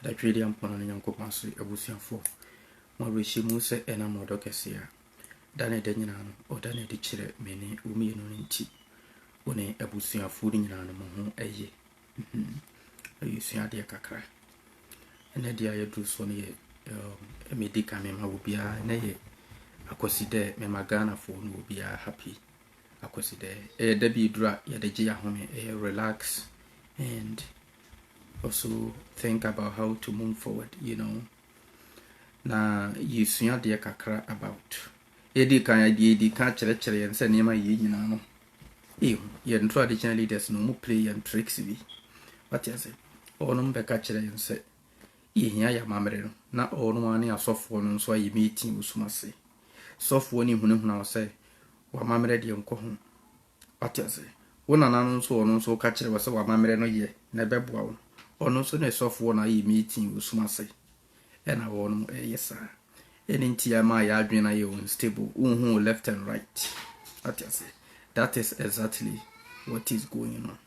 Adadwediampɔn ne Nyankopɔn ase abusuafoɔ, mo awerɛhyɛ mu sɛ ɛnam ɔdɔ kɛseɛ a da ne da nyinaa no ɔda no adi kyerɛ me ne wo mmienu no nti, wo ne abusuafoɔ no nyinaa no mo ho yɛ. Mhm. Yɛsua adeɛ kakra. Ɛnɛ deɛ a yɛduru soɔ no yɛ um, medi kan mema wo biara ɛnɛ yɛ akwasi dɛ mema Ghanafoɔ no wɔ biara happy akwasi dɛ. Ɛyɛ da bi eduru a yɛde gye yɛahome, ɛyɛ relax and also think about how to move forward you know na yɛsua adeɛ kakra about yɛdi kan adeɛ yɛdi kan kyerɛkyerɛ yɛn sɛ nneɛma yɛ nyinaa no ehu yɛn traditional leaders no ɔmo play yɛn tricks bi wate ase ɔnom bɛka kyerɛ yɛn sɛ yɛhia yɛ amammerɛ no na ɔnom ane asɔfoɔ no nso ayɛ meeting wɔ sum ase sɔfoɔ no ehunahuna wɔ sɛ wamammerɛ deɛ nkɔ ho Wate ase? Wo nana no nso, ɔno nso, woka kyerɛ wo sɛ w'amammerɛ no yɛ na ɛbɛboa wo. Ɔno nso ne sɔfoɔ na ayɛ meeting wɔ sum ase. Ɛna wɔnom ɛyɛ saa. Ɛne nti ama yɛn adwene no ayɛ unstable. Wonhu wo left and right. Wate ase? That is exactly what is going on.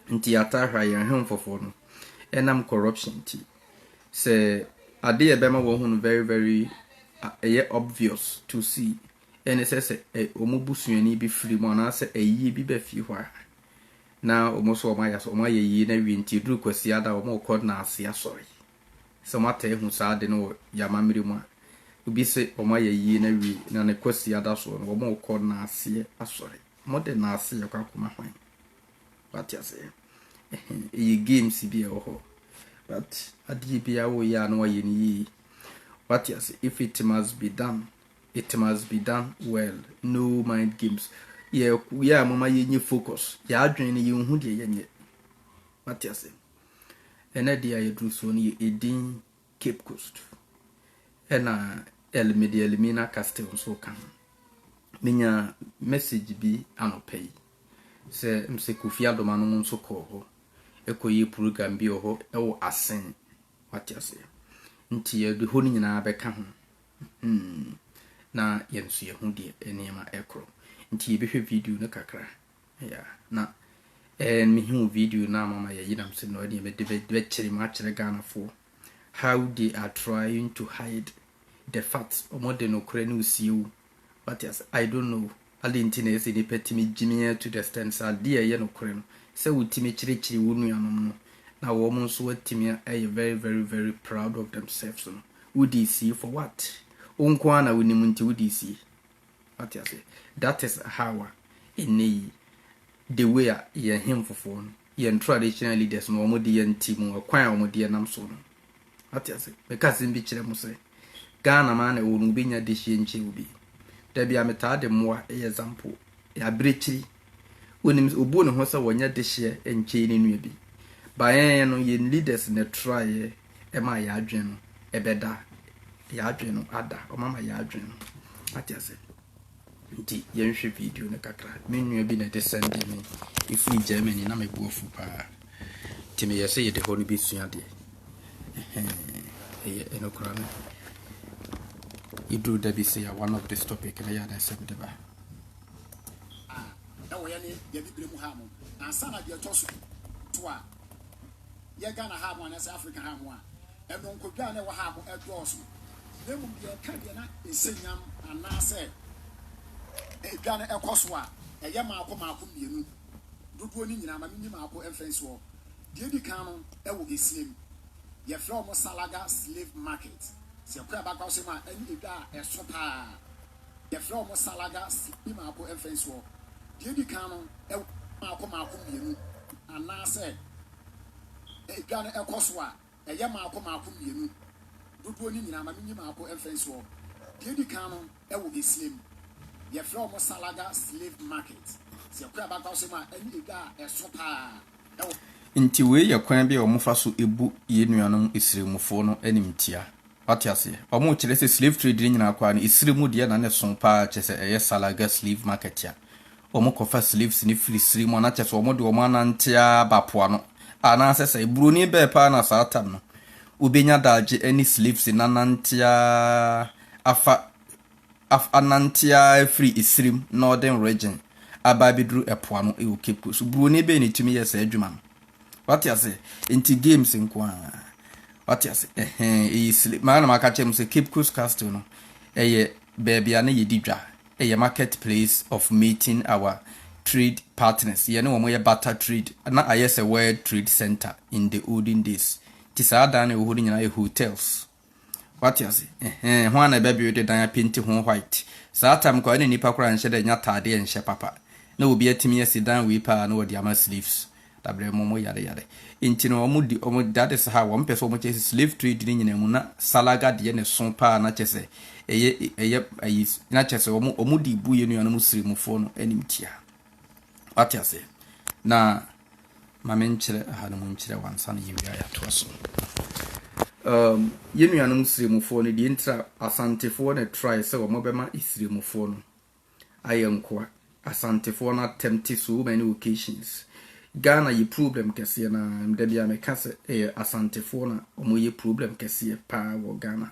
Nti yɛataa hwɛ a, yɛn hemfofoɔ no, ɛnam corruption nti, sɛ adeɛ ɛbɛma wɔahu no very very, ɛyɛ obvious to see, Dɛn na ɛsɛ sɛ wɔn busuani bi firi mu anaasɛ ayie bi ba fie hɔ a, na wɔn nso wɔayɛ asɔre, wɔayɛ ayie na awie nti ɛduru Kwasiada a wɔrekɔ Nnaase asɔre? Sɛ moataa ahu saa ade no wɔ yɛn amammerɛ mu a, obi se wɔayɛ ayie na awie na ne Kwasiada soɔ no wɔrekɔ Nnaaseɛ asɔre. Mode Nnaaseɛ rekɔ akɔma hwan? Wate aseɛ? Ɛhɛn, ɛyɛ games bi a ɛwɔ hɔ but adeɛ biara a woreyɛ a na woayɛ no yie. Wate aseɛ? If it must be done, It must be done well no mind games yɛ yɛ a moma yɛnyɛ focus yɛ adwene no yɛnhu deɛ yɛnyɛ mate ase ɛnɛ deɛ a yɛduru soɔ no yɛ ɛdin Cape Coast ɛna ɛlimede ɛlimina castle nso ka ho menya message bi anɔpɛ yi sɛ msɛ Kofi Adoma no mu nso kɔɔ hɔ ɛkɔyɛ program bi wɔ hɔ ɛwɔ asen mate ase nti yɛde hɔ no nyinaa bɛka ho Hmm. Na yɛn nso yɛhu deɛ nneɛma ɛkorɔ. Nti yɛbɛhwɛ video no kakra. Ya, na ɛn mehu video no a mama yɛyi nam sɛ no ɛdeɛ mede bɛkyere mu akyerɛ Ghanafoɔ. How they are trying to hide the fact wɔde nokorɛ no resie wo. Wate ase? I don't know. Adɛn nti na ɛsɛ sɛ nnipa tumi gye me to the extent sɛ adeɛ a ɛyɛ nokorɛ no, sɛ wotumi kyerɛkyerɛ wo nuanom no, na wɔn nso atumi ayɛ very very very proud of themselves no, wode sie for what? Wo nko ara na wonim nti wode sie. Wate aseɛ? That is how a ɛnnɛ yi the way a yɛn hemfofoɔ no, yɛn traditional leaders no, wɔde yɛn ti mu, ɛkwan a wɔde yɛn nam soɔ no, Wate ase? Meka asɛm bi kyerɛ mo sɛ, Ghana maa na ɛwɔ no wobɛnya dehyeɛ nkyɛw bi. Da bi a metaa de mmoa yɛ zampo, yɛ abirekyiri. Wonim sɛ obu ne ho sɛ wɔnyɛ dehyeɛ nkyɛn ne nua bi. Baeɛ no yɛn leaders na ɛtraeɛ ɛmaa yɛn adwene no ɛbɛda. Yɛn adwene no ada, wɔn ama yɛn adwene no. Wate ase? Nti yɛnhwɛ video no kakra. Me nua bi na ɛde sɛnde me. Ɛfiri Germany, na me bo afu paa. Nti meyɛ sɛ yɛde hɔ no bɛsua adeɛ. Ɛyɛ ɛno koraa no. Yɛduru da bi sɛ yɛ one of this topic na yɛ adan sɛ mede ba. Ɛwɔ yɛ ne yɛ bibire mu ha no. Ansa na deɛ ɛtɔ so to a. yɛ Ghana ha mo anaasɛ Afrika ha mo a, ɛnɔnkodwa a na ɛwɔ ha mo ɛdɔɔso, na mmom deɛ ɛka deɛ na nsɛnyam anaasɛ edwa no ɛkɔ so a, ɛyɛ maako maako mmienu, dodoɔ no nyinaa, ma me nyi maako mfa nsi hɔ, deɛ edi kan no ɛwɔ Gesiem, yɛfrɛ wɔn Salaga Slave Market, sɛ ɛkɔ Abakra Ɔsɛm a, ɛne edwa a ɛso paa. Yɛfrɛ wɔn salaga sidi mako mfɛnsoɔ. Deɛ edi kan no ɛwɔ mako mako mmienu anaasɛ edwa no ɛkɔ so a ɛyɛ mako mako mmienu. Dodoɔ no nyinaa ma menyi mako mfɛnsoɔ. Deɛ edi kan no ɛwɔ esie mu. Yɛfrɛ wɔn salaga slave market. Sɛ yɛkɔ yɛn abakora so mu a ɛne edwa a ɛso paa ɛwɔ. Nti wei yɛ kwan bi a wɔfa so bu yɛn nuanom Isremufoɔ no animtia. Wate aseɛ? Ɔmo kyerɛ sɛ slave trade no nyinaa koraa no, esire mu deɛ na ne soo paa, kyerɛ sɛ ɛyɛ Salaga slave market a ɔmo kɔ fa slaves no firi sire mu, anaa kyerɛ sɛ ɔmo de ɔmo anante ara ba po ano, anaasɛ sɛ Buroni bɛɛ paa na saa tam no, wobɛnya daagye ɛne slaves no anante ara afa Af anante ara firi Esirim, Northern Region, aba abɛduru ɛpo ano wɔ Cape Coast. Buroni bɛn na ɛtumi yɛ saa adwuma no? Wate ase? Nti games nko ara. Wate ase? Ɛhɛn, ɛyɛ sile. Maa na maka kyerɛ mo sɛ Cape Coast Castle no, ɛyɛ baabi a na yɛdi dwa. Ɛyɛ market place of meeting our trade partners. Yɛne wɔn yɛ barter trade. Na ayɛ sɛ World Trade Centre in the olden days. Nti saa adan na ɛwɔ hɔ no nyinaa yɛ hotels. Wate ase? Ɛhɛɛ, hwan na ɛbɛbuilde dan apenti ho white? Saa time koraa na nnipa koraa nhyɛ da nnya ataadeɛ nhyɛ papa. Na obi atumi asi dan wei paa na wɔde ama slaves. Dabrɛ mo mo yare yare. Nti no wɔn di, wɔn, that is how, wɔn pɛ sɛ wɔn kyɛ sɛ slave trade no nyinaa mu na salaga deɛ na ɛso paa na kyɛ sɛ ɛyɛ, ɛyɛ ayi, na kyɛ sɛ wɔn, wɔn de bu yɛn nuanom sirimufoɔ no animtia. Wate aseɛ? Na. ma me nkyerɛ ha no mu nkyerɛ wo ansa na yɛwie a yɛatoa so. Um, yɛn nuanom Siremfoɔ no, deɛ ntira Asantefoɔ na ɛtrae sɛ wɔbɛma Siremfoɔ no ayɛ nkoa. Asantefoɔ no attempt so many occasions. Ghana yɛ problem kɛseɛ na da biara meka sɛ ɛyɛ Asantefoɔ na wɔyɛ problem kɛseɛ paa wɔ Ghana.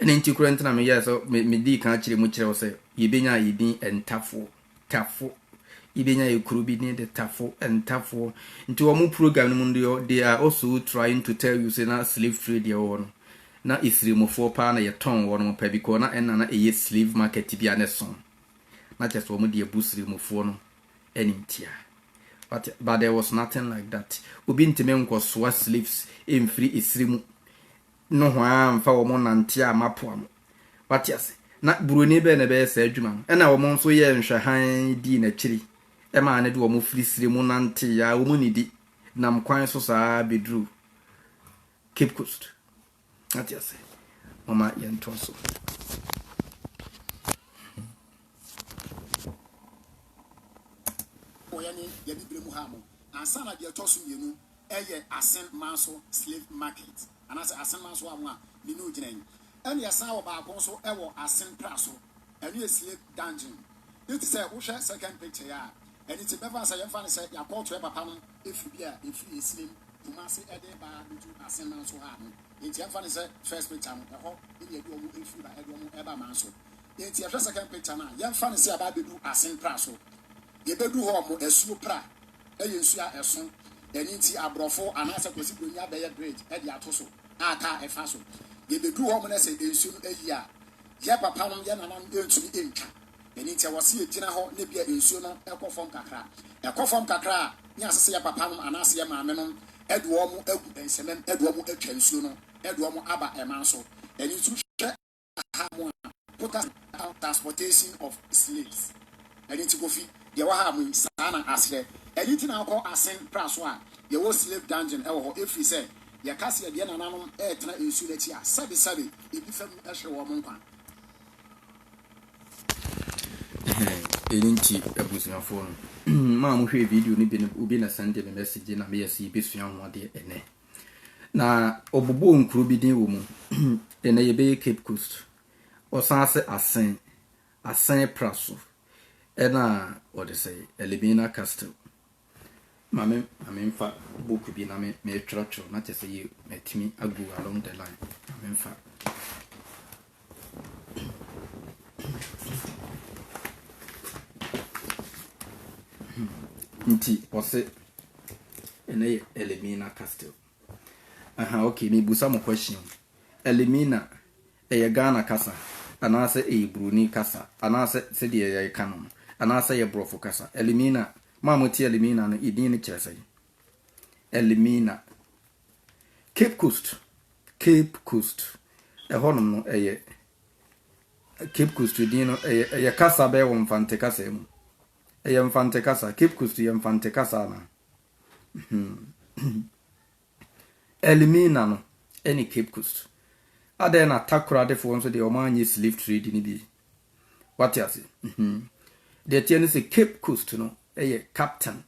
Ɛno nti koraa nti na meyɛɛ sɛ medii kan akyerɛ mu kyerɛ wo sɛ yɛbɛnya yɛdin Ntafoɔ, Tafo. Yɛbɛnya yɛ kuro bi din de Tafo, Ntafoɔ. Nti wɔn program no mu no deɛ they are also trying to tell you sɛ na slave trade yɛ wɔ no, na Isremofoɔ paa na yɛtɔn wɔnom pɛ because na ɛnna na ɛyɛ slave market bi a na ɛso. Na kyerɛ sɛ wɔn deɛ bu Sremofoɔ no animtia. But, but there was nothing like that. Obi ntumi nkɔsoa slaves mfiri esire mu nohoaa mfa wɔn nnanteɛ a mapoa mo. Wate ase? Na Buroni bɛn na ɛbɛyɛ saa adwuma no? Ɛnna wɔn nso yɛɛ nhwɛ hann dii n'akyiri, ɛmaa no de wɔn firi serɛ mu nanteeɛ ara, wɔn nnidi, nam kwan so saa ara bɛduruu Cape Coast. Wate ase? Momma yɛntoa so. Wɔyɛ ne yɛde berɛ mu haa mo. Ansa na deɛ ɛtɔ so mmienu ɛyɛ asen man so slave market anaasɛ asen man so amoa ne ne ogyina yi ɛna yɛsan wɔ baako nso ɛwɔ asen pra so ɛno yɛ slave dungeon ne te sɛ wohwɛ second picture yɛ a ɛne te bɛfa sɛ yɛmfa ne sɛ yɛakɔɔto ɛ papa no ɛfiri bi a ɛfiri ɛsinem Kumasi ɛde ba bɛdu asen man so ha no nti ɛmfa ne sɛ first picture no ɛhɔ ɛne ɛde ɔmo ɛfiri ba ɛde ɔmo ɛba man so nti yɛhwɛ second picture no a yɛmfa ne sɛ yɛaba bɛdu asen pra so yɛbɛdu hɔ ɔmo asuo pra yɛ nsu a ɛso, ɛno nti aborɔfo anaasɛ Kwasi Broni abɛyɛ bridge de ato so a car ɛfa so. Yɛbɛduru hɔ nom na sɛ nsuo no ayie a, yɛ papa nom, yɛ nana nom ntumi ntwa, ɛno nti ɛwɔ se yɛgyina hɔ na bia nsuo no kɔ fam kakra, ɛkɔ fam kakra a ne asɛ sɛ yɛ papa nom anaasɛ yɛ maame nom de wɔn agu nsɛmam de wɔn atwa nsuo no de wɔn aba ɛman so, ɛno nti wohwɛ. ha mo a, quotas about transportation of slaves. Ɛno nti Kofi, deɛ ɛwɔ ha mo yi, saa na aseɛ. Ɛno nti na wokɔ Asen pra so a, yɛwɔ slave dungeon wɔ hɔ, ɛfiri sɛ, yɛka sɛ yɛdeɛ nananom retena nsuo no akyi a, sɛbe sɛbe, ebi fa mu hwe wɔn nkwa. Ɛno nti abusuafoɔ no, mo a mohwɛɛ video no bi no, obi na sɛnde me message na meyɛ sɛ yɛbɛsua ho adeɛ ɛnɛ. Na ɔbobɔɔ nkuro bi din wɔ mu. Ɛnɛ yɛbɛyɛ Cape Coast. Ɔsan sɛ Asen, Asen pra so ɛna wɔde sɛ Elimina Castle. Ma me ma me mfa book bi na me me twerɛtwerɛ na kyɛ sɛ yɛ matumi agu along the line. Ma me mfa. nti ɔse ɛnɛ yɛ elimina castle aha ok mebusa mo question elimina ɛyɛ ghana kasa anaasɛ ɛyɛ buroni kasa anaasɛ sɛdeɛ yɛka no no anaasɛ yɛ borɔfo kasa elimina ma mote elimina no ɛdin no kyerɛ sɛ elimina Cape Coast, Cape Coast, ɛhɔnom no ɛyɛ Cape Coast din no ɛyɛ ɛyɛ kasa bɛyɛ wɔ Mfante kasa mu. Ɛyɛ Mfante kasa. Cape Coast yɛ Mfante kasa na. Elimina no ɛne Cape Coast. Adɛn na Takoradefoɔ nso deɛ wɔn anyɛ slave trade no bi. Wate ase. Deɛ teɛ ne sɛ Cape Coast no ɛyɛ captain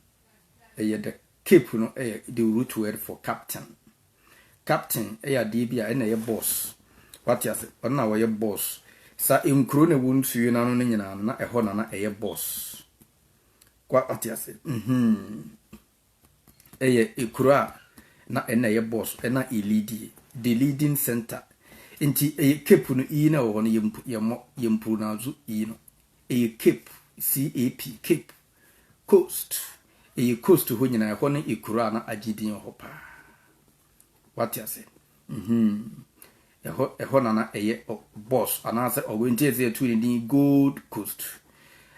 ɛyɛ dɛ. Cape no yɛ the root word for captain. Captain yɛ adeɛ bi a ɛna ɛyɛ boss. Wate ase? Ɔno na ɔyɛ boss. Sa nkuro na ɛwɔ nsuo no ano no nyinaa no, na ɛhɔ na na ɛyɛ boss. Wate ase? Mm-hmm. Ɛyɛ ekuro a na ɛna ɛyɛ boss, ɛna elidie. The leading center. Nti ɛyɛ cape no iyi na ɛwɔ hɔ no yɛmmɔ, yɛmpronounce iyi no. Ɛyɛ cape, C-A-P, cape. Coast, ɛyɛ coast hɔ nyinaa, ɛhɔ no yɛ kuro a na agye din wɔ hɔ paa. Wate ase? Mm-hmm. Ɛhɔ, ɛhɔ na na ɛyɛ ɔ, boss, anaasɛ ɔwɔ nti ɛsɛ yɛtu ne din Gold Coast.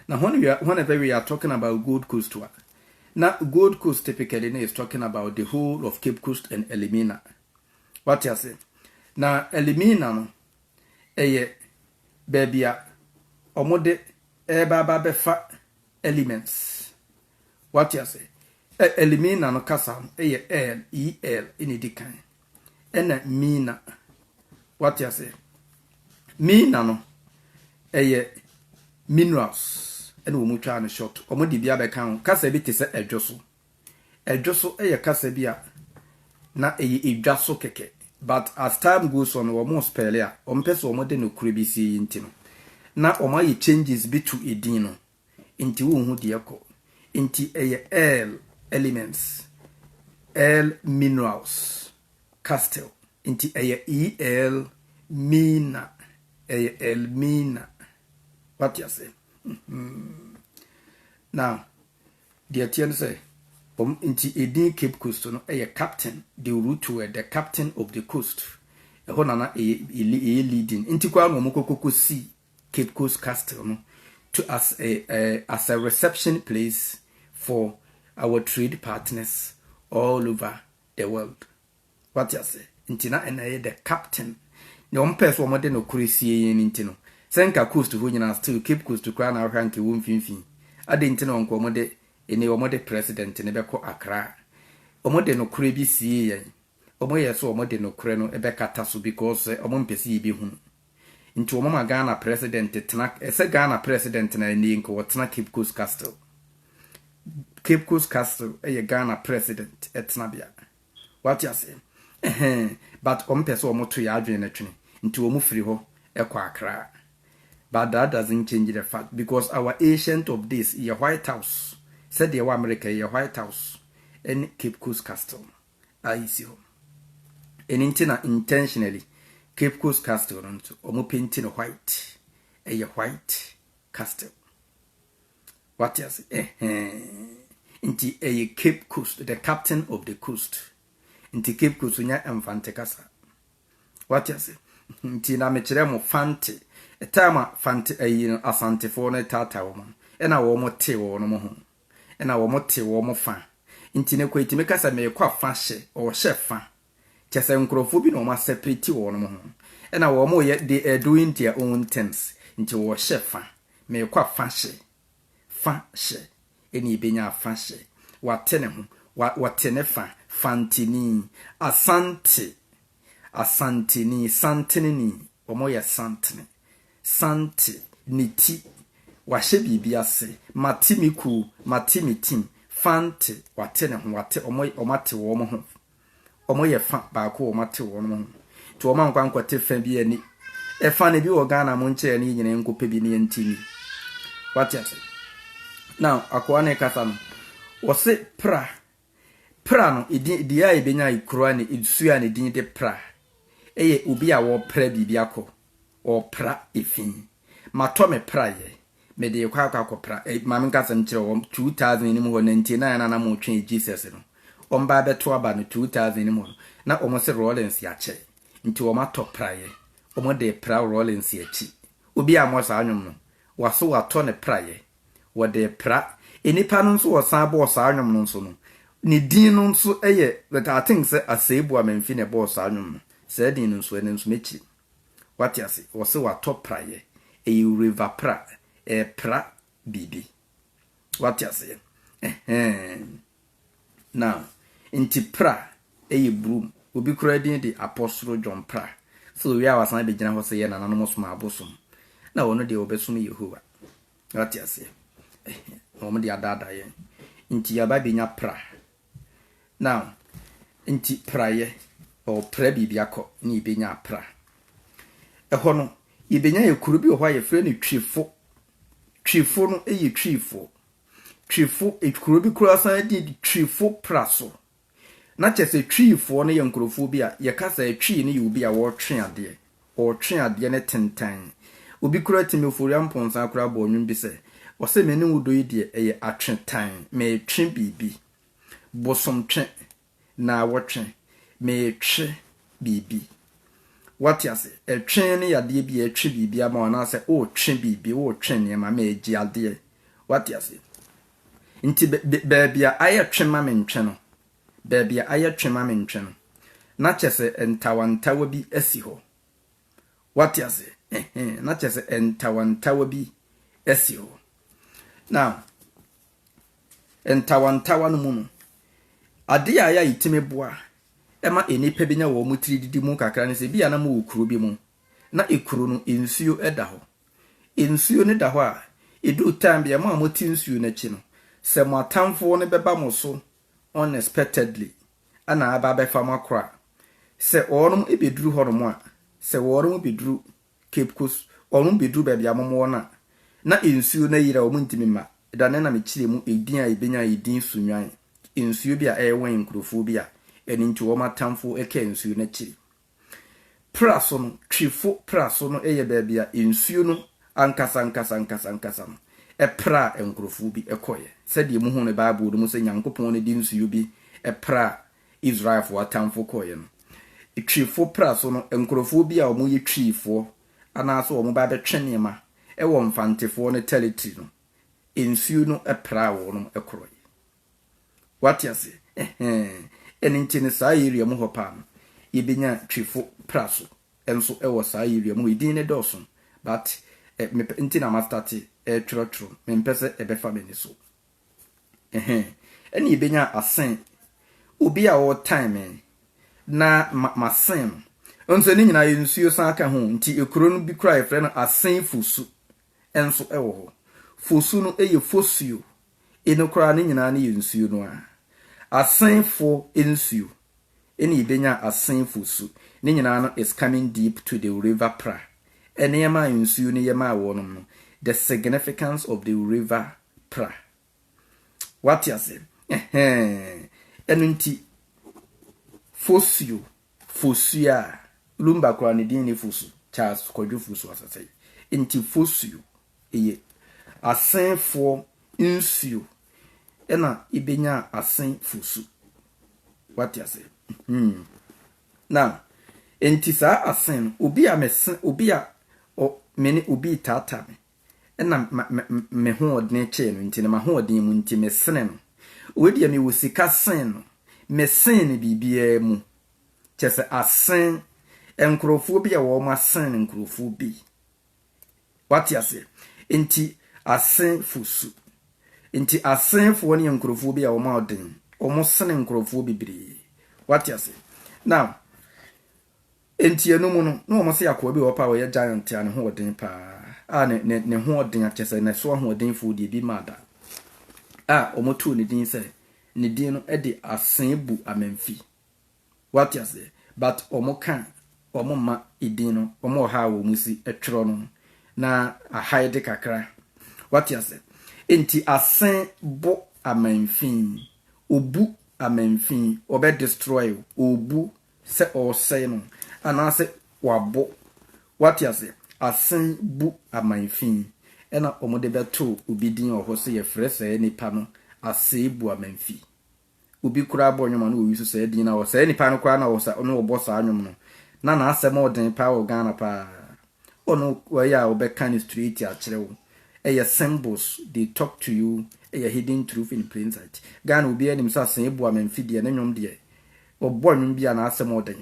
Na when we are, whenever we are talking about Gold Coast a, na Gold Coast typically na is talking about the whole of Cape Coast and Elmina. Wate ase? Na Elmina no, Ɛyɛ baabi a wɔde reba aba abɛfa elements. Wate ase? Ɛ, Elimina no kasa no yɛ el, E-L, na edi kan. Ɛna mina. Wate ase? Mina no, ɛyɛ minerals ɛna wɔn twaa no short. Wɔde bi abɛka ho. Kasa bi te sɛ ɛdwo so. Ɛdwoso yɛ kasa bi a na ɛyɛ edwa so kɛkɛ but as time goes on no wɔn spell a wɔn pɛ sɛ wɔn de nokorɛ bi sie yi nti no na wɔn ayɛ changes bi to edin no nti wo nhu deɛ ɛkɔ nti ɛyɛ earl elements earl minerals castle nti ɛyɛ earl mina ɛyɛ earl mina wate ase hmm. now Deɛ ɛteɛ ne sɛ, wɔn nti edin Cape Coast no yɛ Captain de Rutoe, the Captain of the Coast. Ɛhɔ na na ɛyɛ ɛyɛ leading. Nti koraa na wɔkɔ kɔkɔ si Cape Coast Castle no to as a as a reception place for our trade partners all over the world. Wate aseɛ? Nti na ɛna ɛyɛ the captain. Deɛ wɔn pɛɛ sɛ wɔn de no koro sie yɛn no nti no, sɛ nka coast hɔ nyinaa still Cape Coast koraa na wohwɛ a nka ɛwɔ mfimfini. Adɛn nti na nka wɔn de, ɛnɛ wɔn de president no bɛkɔ Accra? Wɔn de nokorɛ bi siee yɛn. Wɔn yɛɛ sɛ wɔn de nokorɛ no bɛkata so because sɛ wɔn mpɛ sɛ yɛbɛhunu. Nti wɔn ma Ghana president tena, ɛsɛ Ghana president na ɛnɛ nka ɔtena Cape Coast Castle. Cape Coast Castle yɛ Ghana president tenabea. Wate aseɛ? Ɛhɛn. But wɔn pɛ sɛ wɔn to yɛn adwene no twene, nti wɔn firi hɔ kɔ Accra. But that doesn't change the fact because our ancient of days yɛ White House, sɛdeɛ ɛwɔ America yi yɛ White House ɛne Cape Coast Castle a ɛsi hɔ. Ɛno nti na intentionally Cape Coast Castle no nso wɔn painti no white, ɛyɛ white castle. Wate ase? Ɛhɛn. Nti ɛyɛ Cape Coast, the captain of the coast. Nti Cape Coast nya Mfante kasa. Wate ase? Nti na mekyerɛ mo Fante. Ɛtaa ma Fante ayi no Asantefoɔ no taataa wɔn no. Ɛna wɔn te wɔn mo ho. Ɛna wɔn te wɔn fa. Nti ne kɔ eti meka sɛ meekɔ afa hyɛ, ɔhyɛ fa. Kyerɛ sɛ nkurɔfoɔ bi na wɔn asɛpreti wɔ wɔnom ho, ɛna wɔn yɛ, they are doing their own things, nti wɔhyɛ fa, meekɔ a fa hyɛ, fa hyɛ, ɛna ɛbɛnya a fa hyɛ, wate ne ho, wa, wɔte ne fa, fantini, asante, asanteni, santeneni, wɔn yɛ santene, sante, ne ti, wahyɛ biribi ase, mate me kuo, mate me team, fante, wate ne ho, wate, wɔn, wɔn ate wɔn ho, wɔyɛ fa baako wɔn atew wɔn ho nti wɔn ankɔ ankɔte fa bi ani ɛfa no bi wɔ Ghana mo nkyerɛ ne nyina nkɔpɛ bi ne ɛnti ni wate ase na akoa ne kasa no wɔse pra pra no edin deɛ a ɛbɛnya ekura ne esuo a ne din de pra ɛyɛ obi a wɔpra biribi akɔ wɔpra efi Matɔ me praeɛ, mede rekɔ akɔ akɔpra. Ɛ, ma menka asɛm nkyerɛ wo, wɔn, 2000 anim hɔ, nanti na yɛn nana mo retwɛn Jesus no. Wɔbaa bɛto aba no, 2000 anim hɔ no, na wɔn se Rawlings yɛakyɛ. Nti wɔn atɔ praeɛ, wɔn de repra Rawlings akyi. Obiara mmɔ saa nnwom no. Wɔaso wɔatɔ ne praeɛ. Wɔde repra. Nnipa no nso wɔsan bɔɔ saa nnwom no nso no, ne din no nso yɛ, but I think sɛ Asɛe Boamamfi na ɛbɔɔ saa nnwom no. Saa din no nso, ɛno nso mɛkyiri. Wate ase? Wɔse watɔ prayɛ. Ɛyɛ wureva pra. Ɛrepra biribi. Wate aseɛ? Ɛhɛɛn. Now, nti pra ɛyɛ broom. Obi koraa din de Apɔsoro John Pra. Sɛ owie a wasan abɛgyina hɔ sɛ yɛ nananom som abosom. Na ɔno deɛ ɔbɛsom Yehowa. Wate aseɛ? Ɛhɛɛn. Na wɔde adaadaa yɛn. Nti yɛaba abɛnya pra. Now, nti prayɛ, or pra biribi akɔ ne yɛbɛnya apra. Ɛhɔ no, yɛbɛnya yɛ kuro bi wɔ hɔ a yɛfrɛ no Twifo. Twifo no yɛ Twifoɔ. Twifo, kuro bi koraa san din de Twifo pra so. Na kyerɛ sɛ Twifoɔ no yɛ nkurɔfoɔ bi a yɛka sɛ Twi no yɛ obi a ɔretwe adeɛ. Ɔretwe adeɛ no tentɛn. Obi koraa tumi ofori amponsa koraa bɔɔ nnwom bi sɛ, Ɔse me ne wo dɔ yi deɛ ɛyɛ atwetɛn, meretwe biribi. Bosomtwe, naawɔtwe, meretwe biribi. Woate ase? Ɛtwe no yɛ adeɛ bi a ɛretwe biribi ama wo anaasɛ woretwe biribi, woretwe nneɛma, meregye adeɛ. Woate ase? Nti baabi a ayɛ twe ma me ntwe no, Baabi a ayɛ twe ma me ntwe no, na kyerɛ sɛ ntawantawa bi asi hɔ. Woate aseɛ? Ɛhɛn, na kyerɛ sɛ ntawantawa bi asi hɔ. Now, ntawantawa no mu no, adeɛ a ɛyɛ a ɛtumi boa ɛma nnipa bi nya wɔn tiri didi mu kakra ne sɛ, bi a na mowɔ kuro bi mu, na ekuro no nsuo da hɔ. Nsuo no da hɔ a, ɛduru time bi a, mo a mote nsuo no akyi no, sɛ mo atamfoɔ no bɛba mo so unexpectedly na aba abɛfa mo akora. Sɛ wɔnom bɛduru hɔnom a, sɛ wɔnom bɛduru Cape Coast, wɔnom bɛduru baabi a mom wɔ no a, na nsuo no ayiri a wɔn ntumi mma. Da no na me kyerɛ mu edin a yɛbɛnya edin Sunwan, nsuo bi a ɛwɛn nkurofoɔ bi a ɛno nti wɔn atamfoɔ ɛkaa nsuo no akyiri. Pra so no, Twifo pra so no yɛ baabi a nsuo no ankasankasankasankasa no praa nkurɔfoɔ bi kɔeɛ, sɛdeɛ yɛhu no Bible no mu sɛ Nyankopɔn de nsuo bi praa Israelfoɔ atamfo kɔeɛ no. Twifo pra so no, nkurɔfoɔ bi a wɔyɛ twifoɔ anaasɛ wɔba abɛtwe nneɛma wɔ Mfantefoɔ no tɛritiri no, nsuo no praa wɔnom korɔeɛ. Wate ase? Ɛhɛɛ. Ɛno nti no, saa area mu hɔ paa no, yɛbɛnya Twifo Praso nso wɔ saa area mu hɔ. Edin no dɔɔso, but eh, mepɛ, nti na mastate ɛretwerɛtwerɛ, mempɛ sɛ ɛbɛfa m'ani so. Ɛhɛɛ. Ɛna yɛbɛnya Asen, obi a ɔretan me na ma, masen no. Nso ne nyinaa yɛ nsuo san ka ho, nti ekuro no bi koraa yɛfrɛ no Asen Fosu. nso wɔ hɔ. Fosu no yɛ fosuo, eno koraa ne nyinaa no yɛ nsuo no ara. Asenfoɔ nsuo na yɛbɛnya Asen fosu, ne nyinaa no is coming deep to the river Pra. Nneɛma a nsuo no yɛ maa wɔnom no, the significance of the river Pra. Woate aseɛ? Ɛhɛɛn. Ɛno nti, fosuo Fosu a, Lumba koraa ne din ne Fosu, Charles Kwadwo Fosu Asasei. Nti Fosuo yɛ Asenfoɔ nsuo na yɛbɛnyaa Asen Fosu. Wate aseɛ? Hmm. Now, nti saa Asen no, obi a mese, obi a ɔ, me ne obi retaataa me, na me hoɔdene kyee no nti no, m'ahoɔden mu nti, mesene no. Wei deɛ mewɔ sika sen no, mesen no biribiara mu. Kyerɛ sɛ, asen nkurɔfoɔ bi a wɔn asen nkurɔfoɔ bi. Wate aseɛ? Nti, asenfo su. Nti, asenfoɔ no yɛ nkurɔfoɔ bi a wɔn a ɔden, wɔn sene nkurɔfoɔ bebree. Wate aseɛ? Now, Enti ɛno mu no, na wɔse akoa bi wɔ hɔ paa a ɔyɛ giant a ne ho wɔ den paa a ne ne ne ho ɔden a kyerɛ sɛ ne so ahoɔdenfoɔ deɛ ebi mmaa da a wɔtoo ne din sɛ ne din no de Aseebu Amamfi. Wate aseɛ? But wɔka wɔn mma edin no, wɔn wɔ ha a wɔn si twerɛ no na ahide kakra. Wate aseɛ? Enti asen bo amanfin, obu amanfin, ɔbɛ destroy, obu sɛ ɔresɛe no anaasɛ wabɔ. Woate aseɛ? Asen bu aman fi, ɛna wɔde bɛto obi din wɔ hɔ sɛ yɛfrɛ saa nipa no asɛebuamanfi. Obi koraa bɔ nnwom a na wɔyi so saa din no a, saa nipa no koraa na ɔbɔ saa nnwom no. Na n'asɛm ɔden paa wɔ Ghana paa. Ɔno wɔyɛ a ɔbɛka no straight akyerɛ wo. Ɛyɛ symbols they talk to you ɛyɛ hidden truth in plain sight. Ghana obiara nim sɛ Asɛe Boa Me Mfe deɛ ne nnwom deɛ ɔbɔ nnwom bi a n'asɛm wɔ dɛn.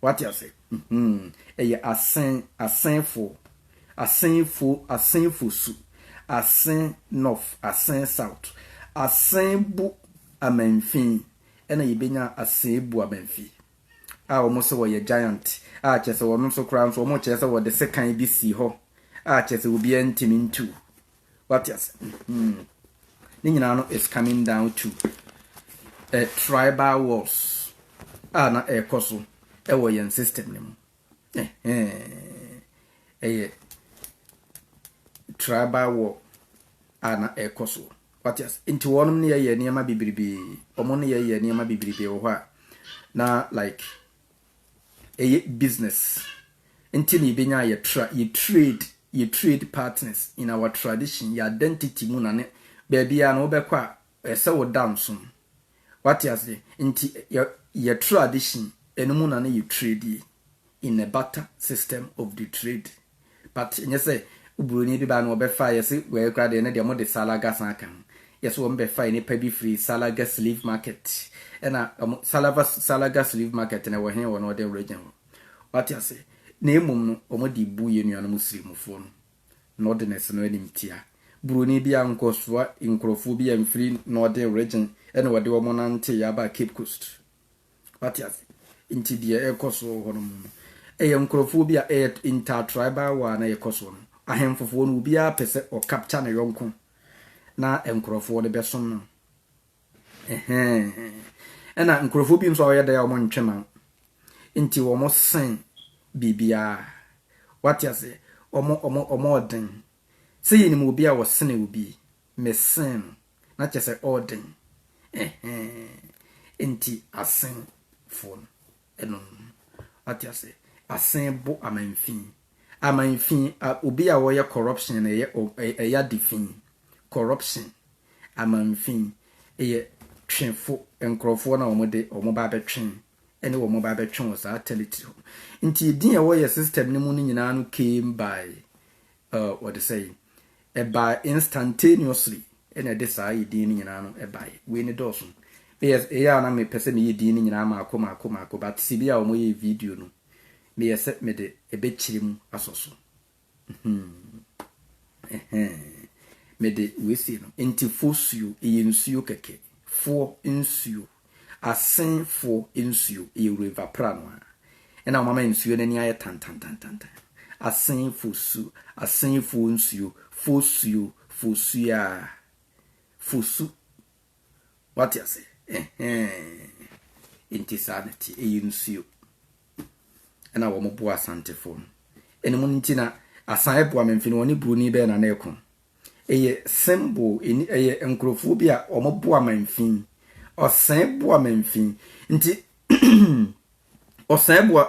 Wate ase? Mhmm ɛyɛ Asɛe Asɛefoɔ Asɛefoɔ Asɛefoɔ su Asɛe North Asɛe South Asɛe Bo Amamfi ɛna yɛbɛnya Asɛe Boa Me Mfe. a wɔn sɛ wɔyɛ giant a kyerɛ sɛ wɔn nso koraa nso wɔn kyerɛ sɛ wɔde sekan bi sii hɔ a kyerɛ sɛ obiara ntumi ntu wate ase hmm ne nyinaa no is coming down to a tribal wars a na ɛrekɔ so ɛwɔ yɛn system no mu ɛyɛ tribal war a na ɛrekɔ so. Wate ase? Nti wɔnom ne yɛ yɛ nneɛma bebrebee. Wɔn ne yɛ yɛ nneɛma bebrebee wɔ hɔ a, na like ɛyɛ business. Nti na yɛbɛnya yɛ tra, yɛ trade, yɛ trade partners in our tradition, yɛ identity mu na ne baabiara no wobɛkɔ a, ɛyɛ sɛ woda nsom. Wate ase? Nti yɛ, yɛ tradition, ɛno mu na ne yɛ trade ye, in a barter system of the trade. But ɛnyɛ sɛ oburoni bi baa na ɔbɛfaa yɛ se wei koraa deɛ ɛno deɛ wɔde salaga san ka ho. Yɛ se wɔbɛfa nnipa bi firii salaga slave market. Ɛna wɔn salava salaga slave market no ɛwɔ he wɔ northern region hɔ. Wate aseɛ? Na mmom no wɔde bu yɛ nuanom sirimufoɔ no northerners no animtia. Buroni biara nkɔsoa nkurɔfoɔ bi amfiri northern region ɛna wɔde wɔn nanteeɛ aba cape coast. Wate ase? Nti deɛ ɛrekɔ so wɔ hɔnom no, ɛyɛ nkorɔfoɔ bi a ɛyɛ inter-tribal war na ɛrekɔ soɔ no. Ahemfofoɔ no, obiara pɛ sɛ ɔcapture ne yɔnko na nkorɔfoɔ no bɛsom no. Ɛhɛn. Ɛna nkorɔfoɔ bi nso a wɔyɛ dɛ a wɔntwe ma. Nti wɔsen biribiara. Wate aseɛ? Wɔn, wɔn, wɔn ɔden. Sɛ yɛnim obi a ɔsene obi. me sen na kyerɛ sɛ ɔɔden ɛhɛɛn nti asen foɔ no ɛnom wate ase asen bo amanfin amanfin a obi a ɔyɛ corruption na ɛyɛ ɛyɛ adefin corruption amanfin ɛyɛ twefo nkorɔfoɔ na wɔn de wɔn ba abɛtwe ɛne wɔn ba abɛtwe wɔ saa territory ho nti edin a ɛwɔ yɛ system no mu no nyinaa no came by Uh, wɔde sɛ yi. Ɛbaa instantaneously ɛna ɛde saa yi din no nyinaa no ɛbaeɛ. Wei ne dɔɔso. Meyɛ ɛyɛ a na mepɛ sɛ meyɛ din no nyinaa maako maako maako but si bi a wɔyɛ video no meyɛ sɛ mede ɛbɛkyerɛ mu asɔ so. Mede wei sei no nti fosuo ɛyɛ nsuo kɛkɛ foɔ nsuo. Asenfoɔ nsuo yɛ river pra no ara na wɔn ama nsuo no ani ayɛ tantantantantan. Asenfo su, Asenfoɔ nsuo, Fosuo, Fosuaa, Fosu. Wate ase? Ɛhɛɛn. Nti saa na ɛteɛ. Ɛyɛ nsuo. Ɛna wɔn boa Asantefoɔ no. Ɛno mu nti na Asan ɛboa me mfini wɔne Buroni bɛɛ na na ɛko. Eyɛ symbol ɛni ɛyɛ nkorɔfoɔ bi a ɔmo boa ma nfi. Ɔsɛɛ boa ma nfi. Nti ɔsɛɛ boa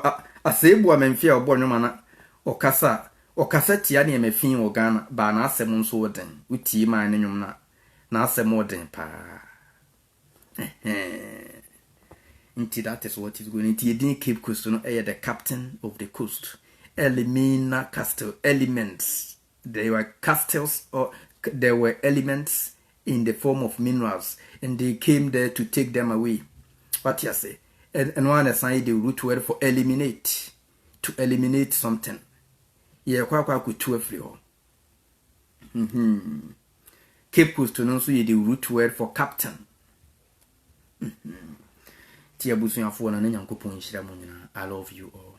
asɛɛ boa ma nfi a ɔbɔ nnwom ana ɔkasa a ɔkasa tia nneɛma fi wɔ Ghana baa n'asɛm nso wɔ den wo tie maa ne nnwom no a n'asɛm wɔ den paa ɛhɛɛn nti that is what is going nti edin Cape Coast no ɛyɛ the captain of the coast Elimina Castle element There were castles or there were elements in the form of minerals and they came there to take them away. Wate ase? Ɛ- Ɛno ara na ɛsan yɛ the root word for eliminate. To eliminate something. Yɛrekɔ akɔ akɔtu afiri hɔ. Mhm. Cape Coast no nso yɛ the root word for captain. Nti abusuafoɔ no ne Nyankopɔn nhyira mu nyinaa. I love you all.